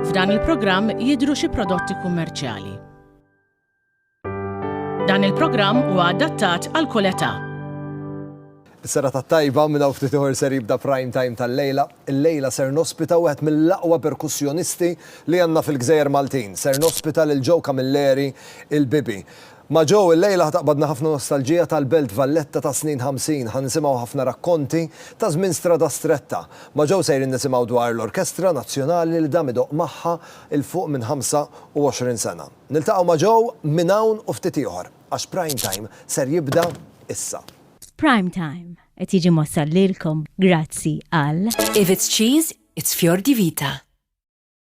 F'dan il-programm jidhru xi prodotti kummerċjali. Dan il-programm huwa adattat għal kull età. Is-sera tat-tajba minn hawn ftit ieħor ser jibda prime time tal-lejla. Il-lejla ser nospita wieħed mill-aqwa perkussjonisti li għandna fil-gżejjer Maltin. Ser nospita lil Joe Camilleri, il-Bibi. Ma' Joe illejla ħa taqbadna ħafna nostalġija tal-Belt Valletta tas-snin ħamsin, ħa nisimgħu ħafna rakkonti ta' żmien Strada Stretta. Ma' Joe sejrin nisimgħu dwar l-Orkestra Nazzjonali li dam idoqq magħha 'l fuq minn 25 sena. Niltaqgħu ma' Joe minn hawn u ftit ieħor, għax Prime Time ser jibda issa. Prime Time qed jiġi mwassal lilkom grazzi għal. If it's cheese, it's fior di vita.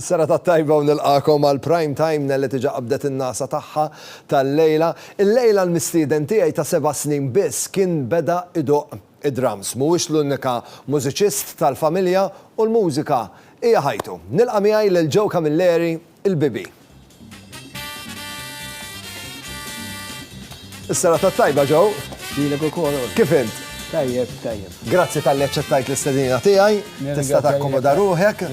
Serata tajba u nilqagħkom għal Prime Time, Nelly tiġa qabdet in-nagħsa tagħha tal-lejla. Illejla l-mistieden tiegħi ta' seba' snin biss kien beda idoqq id-drums. Mhuwiex l-unika mużiċist tal-familja u l-mużika hija ħajtu. Nilqa' miegħi lil Joe Camilleri, il-Bibi. Is-serata tajba ġew. Lilek ukoll. Kif int? Tajjeb, tajjeb. Grazzi tal-li ċettajt l-istedina tiegħi, tista' takkomoda ruħek.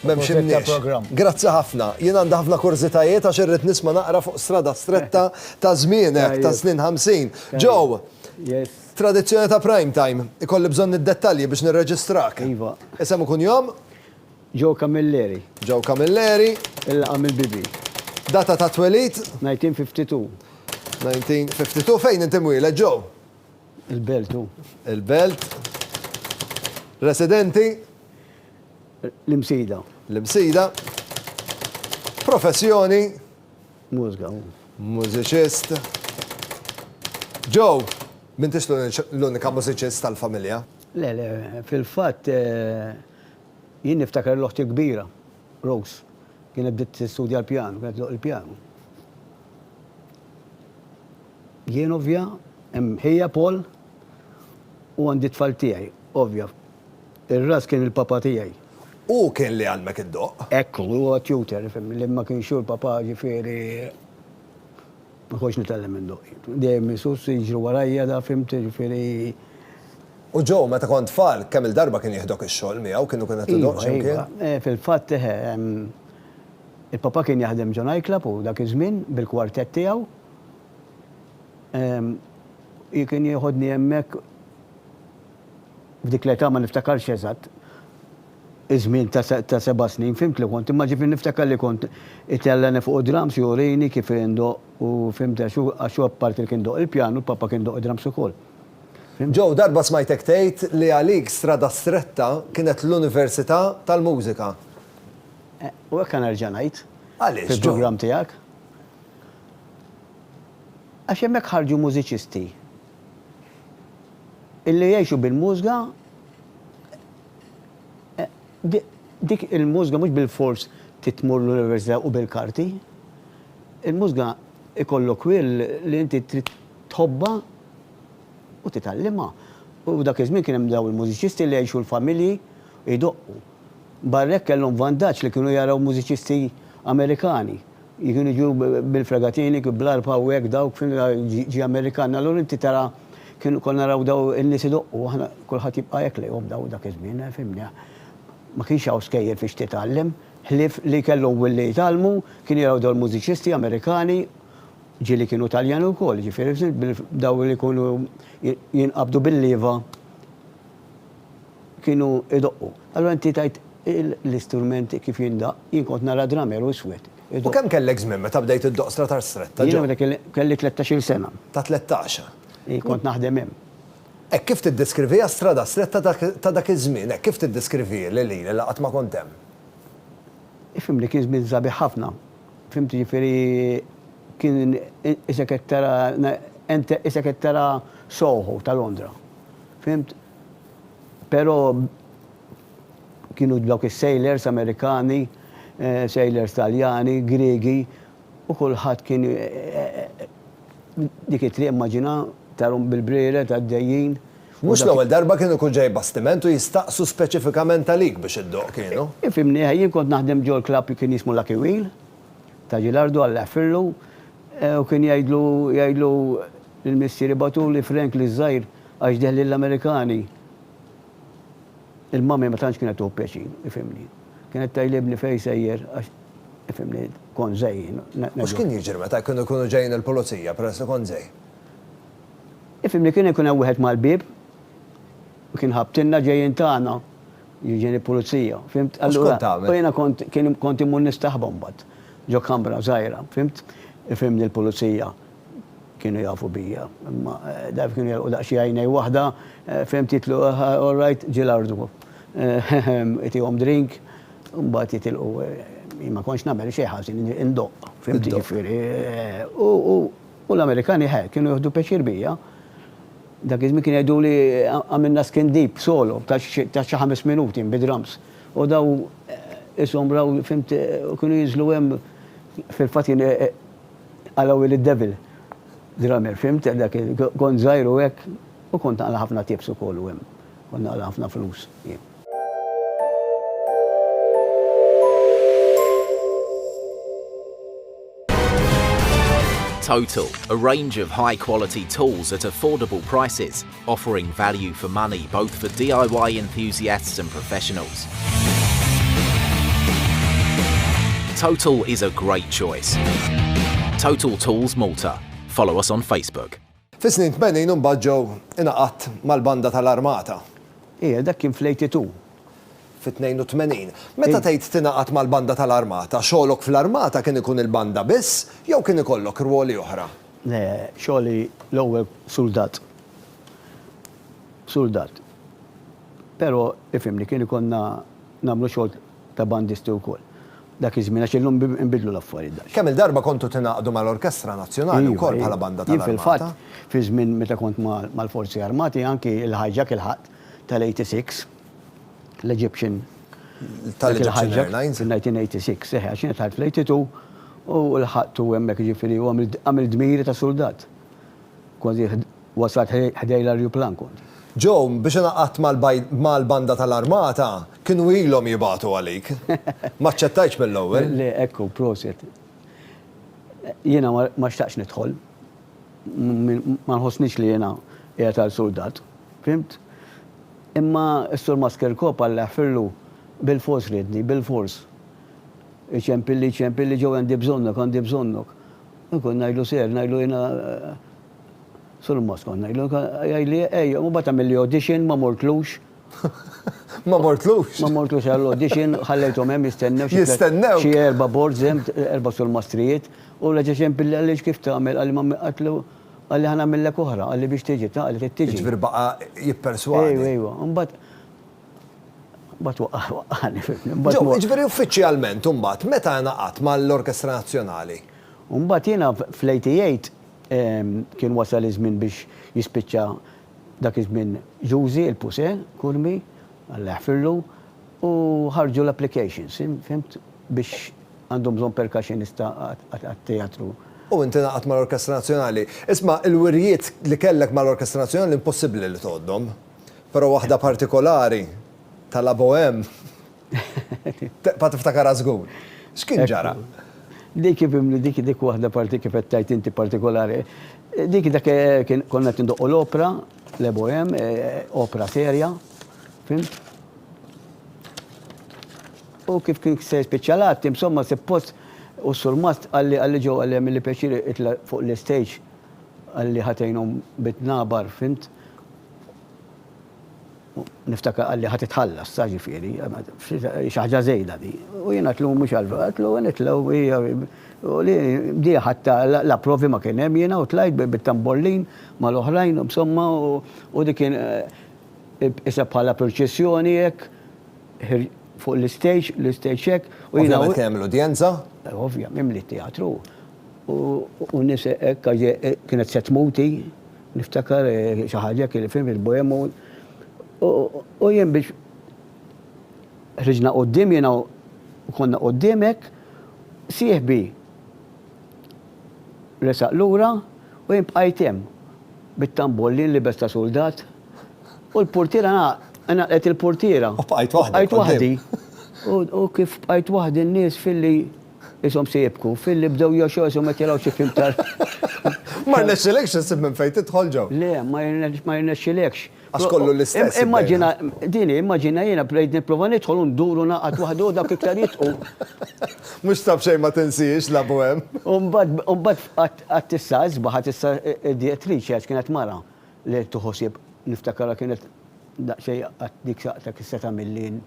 Memx imniex. Grazzi ħafna. Jien għandha ħafna kurzitajiet għax irrid nisma' naqra fuq strada stretta ta' żmienek ta' snin 50. Ġew, tradizzjoni ta' prime time, ikolli bżonn id-dettalji biex nirreġistrak. Iva. Isem ikun jom? Joe Camilleri. Joe Camilleri. Il-laqgħa mill-bibi. Data tat-twelid? 1952. 1952. Fejn inti mwieled, Joe? Il-Belt hu. Il-Belt. Residenti? L-Imsida. L-Imsida. Professjoni? Mużika hu. Mużiċist. Joe, m'intix l-unika mużiċist tal-familja? Le, le, fil-fatt, Jien niftakar l-oħti l-kbira, Rose, kienet bdiet tistudja l-pjanu, kienet tdoqq il-pjanu. Jien ovvja, hemm ħija Paul, u għandi t-tfal tiegħi, ovvja. Ir-ras kien il-papà tiegħi. Hu kien li għallmek iddoqq. Hekk hu, hu t-tutor, ifhimni, li ma kienx hu l-papà, ġifieri. Ma kontx nitgħallem minn doqi. Dejjem is-sus jiġru warajja da fhimt jiġifieri. U Joe meta kont tfal kemm-il darba kien jieħdok ix-xogħol miegħu kienu kien qed idoqq x'imkien? Iva, iva. Fil-fatt eħe. Il-papà kien jaħdem ġo night club hu dak iż-żmien bil-quartet tiegħu. Hi kien jieħodni hemmhekk f'dik l-età ma niftakarx eżatt. iż-żmien ta' seba' snin, fhimt li kont, imma ġifieri niftakar li kont itellgħni fuq id-drums jurini kif indoqq u fhimt għax hu għax hu apparti li kien idoqq il-pjanu, l-Papa kien idoqq id-drums ukoll. Fhimt? Joe, darba smajtek tgħid li għalik Strada Stretta kienet l-Università tal-Mużika. Eh, u hekk nerġa' ngħid. Għaliex, Joe? Fil-programm tiegħek. Għax hemmhekk ħarġu mużiċisti illi jgħixu bil-mużga, Dik il-mużga mhux bilfors trid tmur l-università u bil-karti. Il-mużga ikollok will li inti trid tħobbha u titgħallimha. U dak iż-żmien kien hemm dawn il-mużiċisti li jgħixu l-familji jdoqqu. Barra hekk kellhom vantaġġ li kienu jaraw mużiċisti Amerikani. Kienu jiġu bil-fregatini, bl-arpa hawnhekk dawk fin ġie Amerikan. Allura inti tara kien konna naraw daw in-nies idoqqu, aħna kulħadd jibqa' hekk lejhom daw dak iż-żmien, fhimni. Ma kienx hawn skejjel fiex titgħallem, ħlief li kellhom wien li jitgħallmu, kienu jaraw daw il-mużiċisti Amerikani, ġieli kienu Taljani wkoll, jiġifieri f'żin, daw li jkunu jinqabdu bil-lieva. kienu jdoqqu. Allura inti tgħid l-istrument kif jindaqq, jien kont nara drummer u iswed idoqq. U kemm kellek żmien meta bdejt iddoqq stratar stretta, Joe? Jiena meta kelli tlettax-il sena. Ta' tlettax? Ii, kont naħdem hemm. Hekk kif tiddeskriviha strada stretta ta' dak iż-żmien, hekk kif tiddeskriviha lili li qatt ma kont hemm? Ifhimni, kien żmien sabiħ ħafna. Fhimt, jiġifieri kien isek qed tara, isek qed tara Soho ta' Londra. Fhimt? Pero kienu dawk is-sailors Amerikani, sailors Taljani, Griegi u kulħadd kien dik it-triq immaġina tarhom bil-brired għaddejjin. Mhux l-ewwel darba kien ikun ġej bastiment u jistaqsu speċifikament għalik biex iddoqq, kienu? Ifhimni, jien kont naħdem ġol-klabb kien jismu Lucky Wheel ta' Ġilardu, Alla jaħfirlu, u kien jgħidlu jgħidlu l-missieri bagħtuli Frank l-iż-żgħir Għax deh lill-Amerikani, il-mummy ma tantx kienet tieħu pjaċir, ifhimni. Kienet tgħid libni fejn sejjer għax, ifhimni, kont żgħir. U x'kien jiġri meta kienu jkunu ġejjin il-pulizija peress li kont żgħir? Ifhimni, kien ikun hemm wieħed mal-bieb u kien ħabbtilna ġejjin tagħna, ġejjin il-pulizija, fhimt? U x'kont tagħmel? U jiena kont, kien, kont immur nistaħba mbagħad ġo kamra żgħira, fhimt? Ifhimni, l-pulizija Kienu jafu bija, imma daf kienu jelqu daqsxi għajnej waħda, fehmt jitlu all right, ġie l-ardu. Itihom drink, mbagħad jitilqu. Jien ma kontx nagħmel xejn ħażin, indoqq, fehmti ġifieri. U l-Amerikani ħe, kienu jieħdu pjaċir bija. Dak iż-żmien kienu jgħiduli għamilna skin deep solo ta' xi ħames minuti bid-drums. U daw ishom raw, fehmt, kienu jinżlu hemm, fil-fatt jien, Għala Willie Devil drummer, fhimt? Dak il, kont żgħir u hekk, u kont naqla' ħafna tapes ukoll u hemm kont naqla' ħafna flus jien. Total, a range of high quality tools at affordable prices, offering value for money both for DIY enthusiasts and professionals. Total is a great choice. Total Tools Malta. Follow us on Facebook. Fis-snin 80 imbagħad ġew ingħaqadt mal-banda tal-armata. Ija, dak kien fl-82. Fit-82. Meta tgħid tingħaqad mal-banda tal-armata, xogħlok fl-armata kien ikun il-banda biss jew kien ikollok rwoli oħra? Le, xogħli l-ewwel suldat. Suldat. Però, ifhimni, kien ikollna nagħmlu xogħol ta' bandisti wkoll. Dak iż-żmien, għax illum inbidlu l-affarijiet daqsxejn. Kemm-il darba kontu tingħaqdu mal-Orkestra Nazzjonali wkoll bħala banda tal-Armata? Iva, jien fil-fatt, fiż-żmien meta kont mal-Forzi Armati, anki l-hijack ilħaqt tal-86, l-Egyptian tal-Egyptian Airlines fin-1986, seħħ għax jien tħajt fl-82 u lħaqtu hemmhekk jiġifieri u għamilt dmiri ta' suldat. Kważi wasalt ħdej l-arjuplan kont. Joe, biex ingħaqadt mal-banda tal-armata, kienu ilhom jibagħtu għalik. Ma aċċettajtx mill-ewwel. Le, hekk hu, proset. Jiena ma xtaqtx nidħol. Ma nħossnix li jiena qiegħed għal suldat. Fhimt? Imma s-Sur Maskerko Palla jaħfirlu, Bilfors riedni, bilfors. Iċempilli, iċempilli, Joe għandi bżonnok, għandi bżonnok. Jien kont ngħidlu seher, ngħidlu jiena Sur Mas kont ngħidlu, jgħidli ejja, mbagħad għamilli audition, ma mortlux. Ma mortlux? Ma mortlux għall-audition, ħallejthom hemm jistennew xi. Jistennew? Xi erba' boards hemm, erba' surmastrijiet, u reġa' ċempilli għaliex kif tagħmel, qalli ma għidtlu, Qalli ħa nagħmillek oħra, qalli biex tiġi, ta' qalli trid tiġi. Jiġifieri baqa' jipperswadi. Ejwa, ejwa. Imbagħad imbagħad waqqa' waqqagħni, fhimtni. Imbagħad Ġew, jiġifieri uffiċjalment imbagħad meta ingħaqadt mal-Orkestra Nazzjonali? U mbagħad jiena fl-88 kien wasal iż-żmien biex jispiċċa Dak iż-żmien Ġużi, il-Puse, Kurmi, Alla jaħfirlu, u ħarġu l-applications, fhimt, biex għandhom bżonn percussionist għat-teatru. U inti ngħaqadt mal-Orkestra Nazzjonali. Isma', il-wirjiet li kellek mal-Orkestra Nazzjonali impossibbli li tgħoddhom. Però waħda partikolari, ta' La Bohème. Tibqa' tiftakarha żgur. X'kien ġara? Dik ibimli dik dik waħda parti kif qed tgħid inti partikolari. Dik dak konna qed indoqqu l-opra, l-ebohem, opra serja, fimt? U kif kien se jispiċċa l-att, insomma sippost u s-surmat għalli għalli ġew għalli għamilli pjaċir itla' fuq l-istage għalli ħatejnhom bit-tnabar, fimt? Niftakar qalli ħa titħallas, sa ġifieri, xi ħaġa żejda di. U jiena tlum mhux għal għatlu nitlgħu u li bdieha ħatta la provi ma kien hemm jiena u tlajt bit-tambollin mal-oħrajn u b'somma u dik kien qisha bħala purċissjoni hekk fuq l-istejġ, l-istejġ hekk u jiena. Ovvjament kien hemm l-udjenza? Ovvja, mimli t-teatru u n-nies hekk kienet se tmut hi. Niftakar xi ħaġa hekk li fil il-bohem u u jien biex ħriġna quddiem jiena u konna quddiem hekk, sieħbi resaq lura u jien bqajt hemm bit-tambol li nlibes ta' suldat u l-purtiera ngħalqet il-purtiera. U bqajt waħdek. U bqajt waħdi. U kif bqajt waħdi n-nies filli. Qishom se jibku. Filli bdew joxgħu qishom qed jaraw xi film tal. Ma rnexxilekx issib minn fejn tidħol ġo? Le, ma jirnexxilekx. Għax kollu l-istess. Immaġina, din hi, immaġina jiena bdejt nipprova nidħol u ndur u naqgħad waħdu u dawk iktar jidħqu. Mhux ta' b'xejn ma tinsiex labu hemm. U mbagħad, u mbagħad qatt issa isbaħ, qatt issa id-direttriċi għax kienet mara, Le qed tieħu ħsieb, niftakarha kienet daqsxejn qatt dik saqta kif se tagħmilli jien,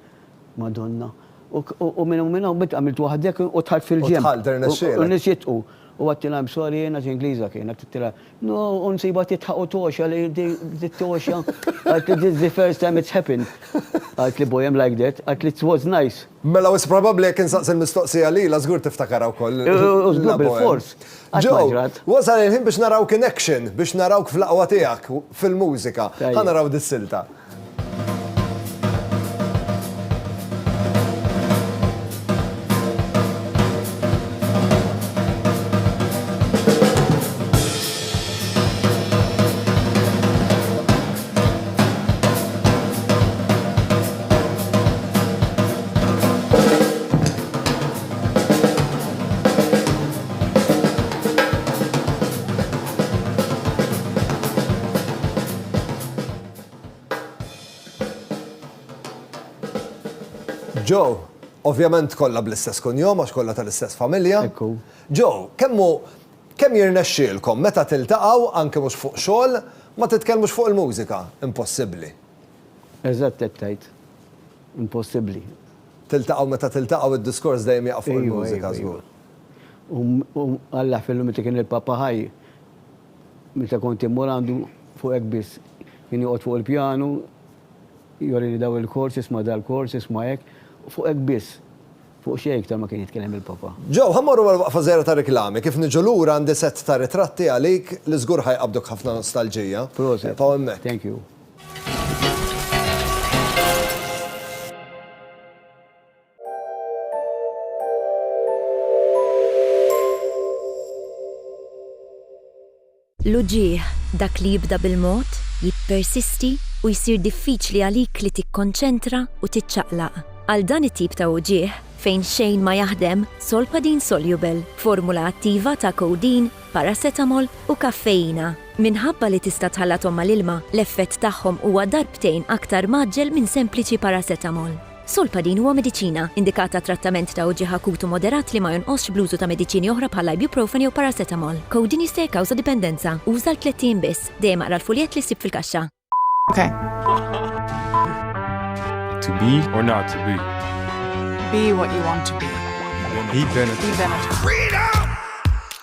Madonna. U minn hawn minn hawn bdiet għamilt waħdek u dħalt fil-ġenb. U dħalt, irnexxielek. U rnexxiet u għedtilha I'm sorry jiena xi Ingliża kienet, għedtilha no u nsibha tidħaq u togħxa li di togħxa, għedtli this is the first time it's happened. Għedtli boy I'm like that, għedtli it was nice. Mela wis probabbli jekk insaqsi l-mistoqsija lilha żgur tiftakarha wkoll. U żgur bil-fors. Joe, wasal il-ħin biex narawk in action, biex narawk fl-aqwa tiegħek fil-mużika. Ħa naraw dis-silta. Joe, ovvjament kollha bl-istess kunjom għax kollha tal-istess familja. Hekk hu. Joe, kemm hu Kemm jirnexxielkom, meta tiltaqgħu, anki mhux fuq xogħol, ma titkellmux fuq il-mużika? Impossibbli. Eżatt hekk tgħid. Impossibbli. Tiltaqgħu meta tiltaqgħu id-diskors dejjem jaqa' fuq il-mużika żgur. U Alla fillu meta kien il-Papa ħaj, meta kont immur għandu fuq hekk biss. Kien joqgħod fuq il-pjanu, jorini dawn il-chords, isma' dal-chords, isma' hekk, fuq hekk biss. Fuq xejn iktar ma kien jitkellem il-Papa. Joe, ħa mmorru għall-waqfa żgħira tar-riklami. Kif niġu lura għandi sett ta' ritratti għalik li żgur ħa jqabbduk ħafna nostalġija. Proset. Eqfgħu hemmhekk. Thank you. L-uġigħ, dak li jibda bil-mod, jippersisti u jsir diffiċli għalik li tikkonċentra u tiċċaqlaq. Għal dan it-tip ta' uġigħ, fejn xejn ma jaħdem, Solpadeine Soluble, formula attiva ta' codeine, paracetamol u kaffeina. Minħabba li tista' tħallathom mal-ilma, l-effett tagħhom huwa darbtejn aktar mgħaġġel minn sempliċi paracetamol. Solpadin huwa mediċina, indikat għat-trattament ta' uġigħ akut u moderat li ma jonqosx bl-użu ta' mediċini oħra bħall-ibuprofen jew paracetamol. Codeine jista' jikkawża dipendenza. Uża għal tlett ijiem biss. Dejjem aqra l-fuljett li ssib fil-kaxxa. To be or not to be. Be what you want to be. Be Benetton. Be Benetton. Freedom!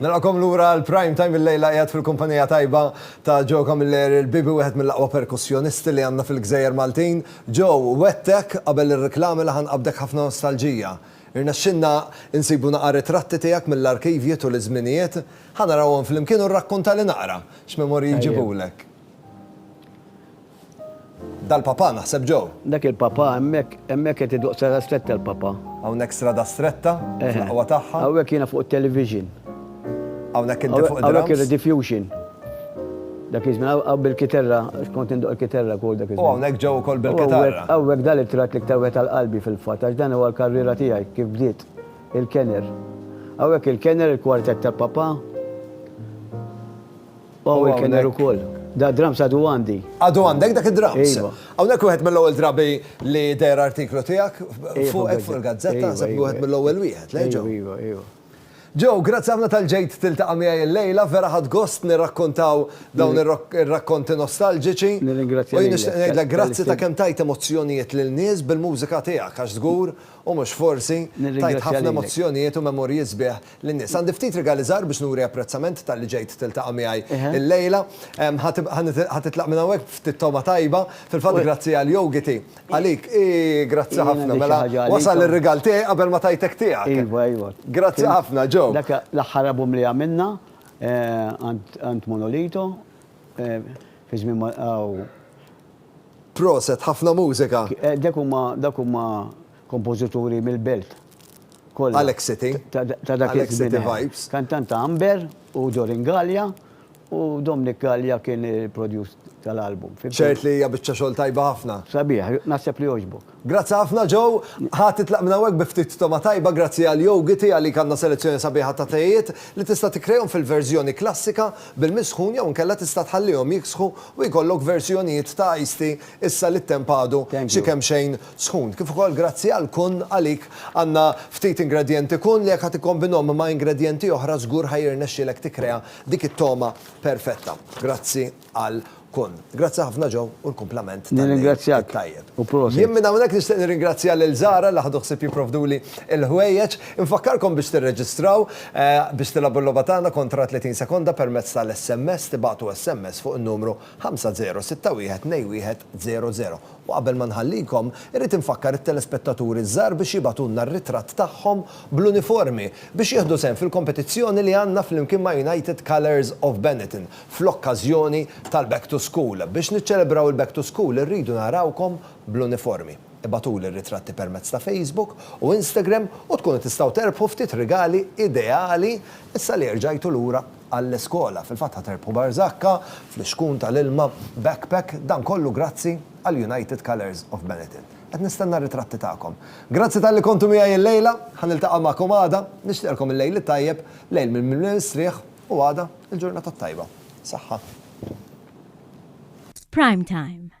Nilqakom lura l-prime time il-lejla qiegħed fil-kumpanija tajba ta' Joe Camilleri l-bibi wieħed mill-aqwa perkussjonisti li għandna fil-Gżejjer Maltin. Joe, wegħdtek qabel ir-riklami li ħanqabdek ħafna nostalġija. Irnexxilna nsibu naqa' ritratti tiegħek mill-arkivji tul iż-żminijiet. Ħa narawhom flimkien u rrakkuntali naqra x'memorji jġibulek. Dal-Papa, naħseb Joe. Dak il-Papa hemmhekk, hemmhekk qed iduq Strada Stretta l-Papa. Hawnhekk Strada Stretta, fl-aqwa tagħha. Hawnhekk jiena fuq it-television. Hawnhekk inti fuq id-drums. Hawnhekk ir-Rediffusion. Dak iż-żmien hawn bil-kiterra, kont indoq il-kiterra wkoll dak iż-żmien. U hawnhekk Joe ukoll bil-kitarra. Hawnhekk dan it-tratt l-iktar wieħed għal qalbi fil-fatt, għax dan huwa l-karriera tiegħi kif bdiet, il-Kenner. Hawnhekk il-Kenner, il-Quartet tal-Papa. Hawn il kenner ukoll. Da drums għadu għandi. Għadu għandek dak id-drums? Iva. Hawnhekk wieħed mill-ewwel drabi li deher artiklu tiegħek fuqek fuq il-gazzetta, naħseb li wieħed mill-ewwel wieħed, le Joe? Iva, iva. Joe, grazzi ħafna tal-ġejt tiltaqa' miegħi illejla, vera ħadd gost nirrakkontaw dawn ir-rakkonti nostalġiċi. Nirringrazzja. U jien nixtieq ngħidlek grazzi ta' kemm tajt emozzjonijiet lil nies bil-mużika tiegħek għax żgur u mhux forsi tajt ħafna emozzjonijiet u memorji sbieħ lin-nies. Għandi ftit rigali żgħar biex nuri apprezzament talli ġejt tiltaqa' miegħi illejla. Ħa titlaq minn hawnhekk b'ftit togħma tajba. Fil-fatt grazzi għal jogiti. Għalik? Iih, grazzi ħafna. Mela wasal ir-rigal tiegħi qabel ma tajtek tiegħek. Iva, iva. Grazzi ħafna, Joe. Dak l-aħħar album li għamilna għand Monolito fi żmien ma. Proset, ħafna mużika. Dak huma, dak huma. Kompożituri mill-belt kollha. Alex City. Ta' dak iż-żmien. Alex City vibes. Kantant ta' Amber u Dorin Gallia u Dominic Gallia kien il-produce tal-album. Ċert li hija biċċa xogħol tajba ħafna. Sabiħ, naħseb li jogħġbok. Grazzi ħafna Joe. Ħa titlaq minn hawnhekk bi ftit togħma tajba grazzi għal Yo Giti għalik għandna selezzjoni sabiħa ta' tejiet li tista' tikkrejahom fil-verżjoni klassika bil-misħun jew inkella tista' tħallihom jiksħu u jkollok verżjonijiet ta' iced tea issa li t-temp għadu xi kemxejn sħun, kif ukoll grazzi għal kun għalik għandna ftit ingredjenti kun li jekk ħa tikkombinhom ma' ingredjenti oħra żgur ħa jirnexxielek tikkrea dik it-togħma perfetta. Grazzi għal kun. Grazzi ħafna Joe u l-kumplament tal-Għid it-Tajjeb. Jien minn hawnhekk nixtieq nirringrazzja lil Zara li ħadu ħsieb jipprovduli l-ħwejjeġ. Infakkarkom biex tirreġistraw biex tilagħbu l-logħba tagħna kontra 30 sekonda permezz tal-SMS, tibagħtu SMS fuq in-numru 5061 21 00. U qabel ma nħallikom, irrid infakkar it-telespettaturi ż-żgħar biex jibagħtulna r-ritratt tagħhom bl-uniformi biex jieħdu sehem fil-kompetizzjoni li għandna flimkien ma' United Colours of Benetton fl-okkażjoni tal-Back to School. Biex niċċelebraw il-Back to School irridu narawkom bl-uniformi. Ibagħtuli r-ritratti permezz ta' Facebook u Instagram u tkunu tistgħu terbħu ftit rigali ideali issa li erġajtu lura. għall-iskola. Fil-fatt ħa terbħu barżakka, flixkun tal-ilma, backpack, dan kollu grazzi għal United Colours of Benetton. Qed nistenna r-ritratti tagħkom. Grazzi talli kontu miegħi l-lejla, ħa niltaqa' magħkom għada, nixtieqlkom il-lejl it-tajjeb, lejl mimli mistrieħ u għada il-ġurnata t-tajba. Saħħa. Prime Time.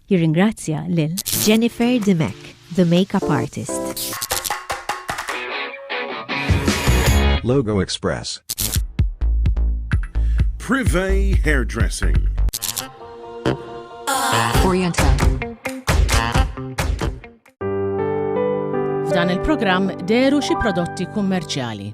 Jirringrazzja lil Jennifer Dimech, the makeup artist. Logo Express. Privé Hairdressing. Oriental. F'dan il-programm deru xi prodotti kummerċjali.